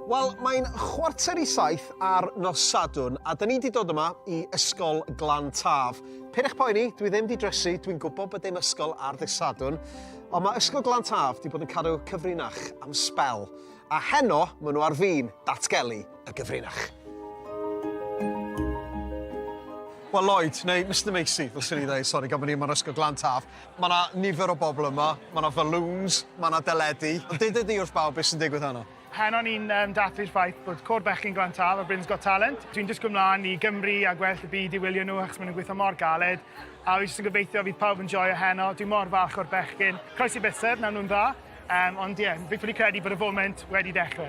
Wel, mae'n chwarter i saith ar nos Sadwn, a dyn ni wedi dod yma i Ysgol Glan Taf. Pyn eich poeni, dwi ddim wedi dresu, dwi'n gwybod bod dim ysgol ar ddydd Sadwn, ond mae Ysgol Glan Taf wedi bod yn cadw cyfrinach am sbel, a heno maen nhw ar fin datgelu y gyfrinach. Wel, Lloyd, neu Mr Macy, fel sy'n ei ddweud, sori, gan bod ni yma'n Ysgol Glan Taf, Mae 'na nifer o bobl yma, mae 'na faloons, mae 'na deledu. Ond duda di wrth bawb beth sy'n digwydd heno. Heno ni'n um, dathlu'r ffaith bod Côr Bechgyn Glan Tal o Britain's Got Talent. Dwi'n disgwyl mlaen i Gymru a gwell y byd i wylio nhw achos maen nhw'n gweithio mor galed. A fi jyst yn gobeithio fydd pawb yn joio heno. Dwi'n mor falch o'r bechgyn. Croesi bysedd, nawn nhw'n dda. Um, ond ie, yeah, fi'n ffili credu bod y foment wedi dechrau.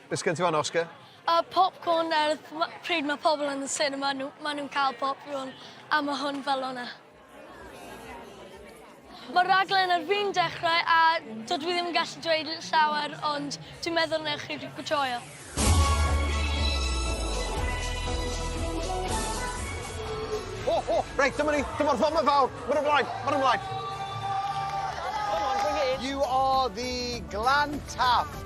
Be sgen ti fan 'na, Oscar? A popcorn er pryd mae pobl yn y cinema, nhw, maen nhw'n cael popcorn, a mae hwn fel o'na. Mae'r raglen ar fin dechrau a dydw i ddim yn gallu dweud llawer, ond dwi'n meddwl newch chi joio. O, o, reit, dyma ni, dyma'r fama fawr, mae'n ymlaen, mae'n ymlaen. You are the Glan Taff.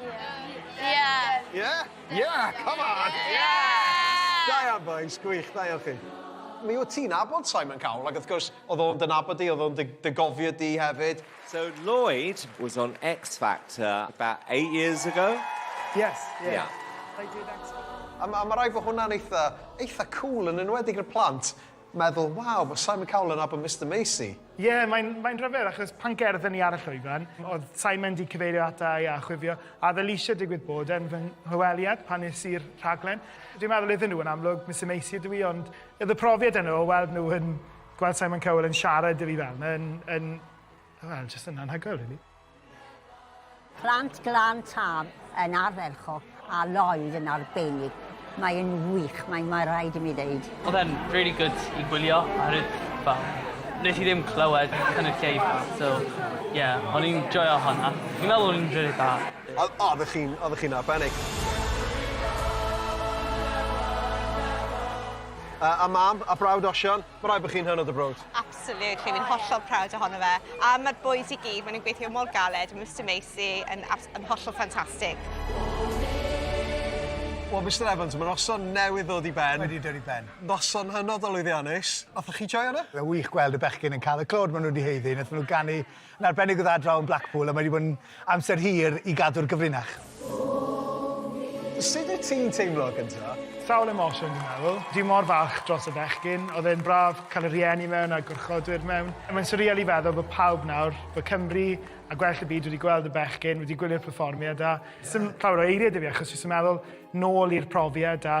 Yeah. Yeah. Yeah? Yeah, come on! Yeah! Da iawn, boys. Gwych, da iawn chi. Mi wyt ti'n abod Simon Cowell, ac wrth gwrs, oedd o'n dynabod di, oedd o'n dy gofio di hefyd. So Lloyd was on X Factor about eight years ago? Yes, yeah. yeah. I did X Factor. A, a mae rhaid bod hwnna'n eitha, eitha cool yn enwedig y plant. meddwl, waw, mae Simon Cowell yn nabod Mister Macy. Ie, yeah, mae'n mae rhyfedd, achos pan gerddon ni ar y llwyfan, oedd Simon di cyfeirio ata i a chwifio, a oedd Alicia digwydd bod yn fy nghyweliad pan nes i'r rhaglen. Dwi'n meddwl iddyn nhw yn amlwg, Mister Macy ydw i, ond oedd y profiad yno o weld nhw yn gweld Simon Cowell yn siarad i fi fel, yn, yn Wel, jyst yn anhygoel, rili. Plant Glan Taf yn ardderchog a Lloyd yn arbennig. Mae'n wych, mae'n mae rhaid i mi ddeud. Oedd e'n really good i gwylio ar y fel, nes i ddim clywed cynulleidfa, so ie, o'n i'n joio hwnna. Fi'n meddwl o'n i'n really da. Oeddech chi'n oeddech chi'n arbennig. Uh, a mam, a brawd Osian. Mae'n rhaid bod chi'n hynod o browd. Absolutely, fi'n hollol proud ohono fe. A mae'r boys i gyd, maen nhw'n gweithio mor galed, mae Mr Macy yn, yn hollol ffantastig. Wel, Mr Evans, mae noson newydd ddod i ben. Wedi dod i ben. Noson hynod o lwyddiannus. Othoch chi joio hwnna? Mae'n wych gweld y bechgyn yn cael y clod maen nhw wedi heiddi. Nath nhw ganu Yn arbennig o dda draw yn Blackpool a mae wedi bod yn amser hir i gadw'r gyfrinach. Sut wyt ti'n teimlo gynta? Sawl emosiwn dwi'n meddwl. Dwi mor falch dros y bechgyn. Oedd e'n braf cael y rhieni mewn a'r gwrchodwyr mewn. Mae'n swreal i feddwl bod pawb nawr, bod Cymru a gwell y byd wedi gweld y bechgyn, wedi gwylio'r perfformiad a 'sdim llawer o eirie 'da fi achos jyst yn meddwl nôl i'r profiad a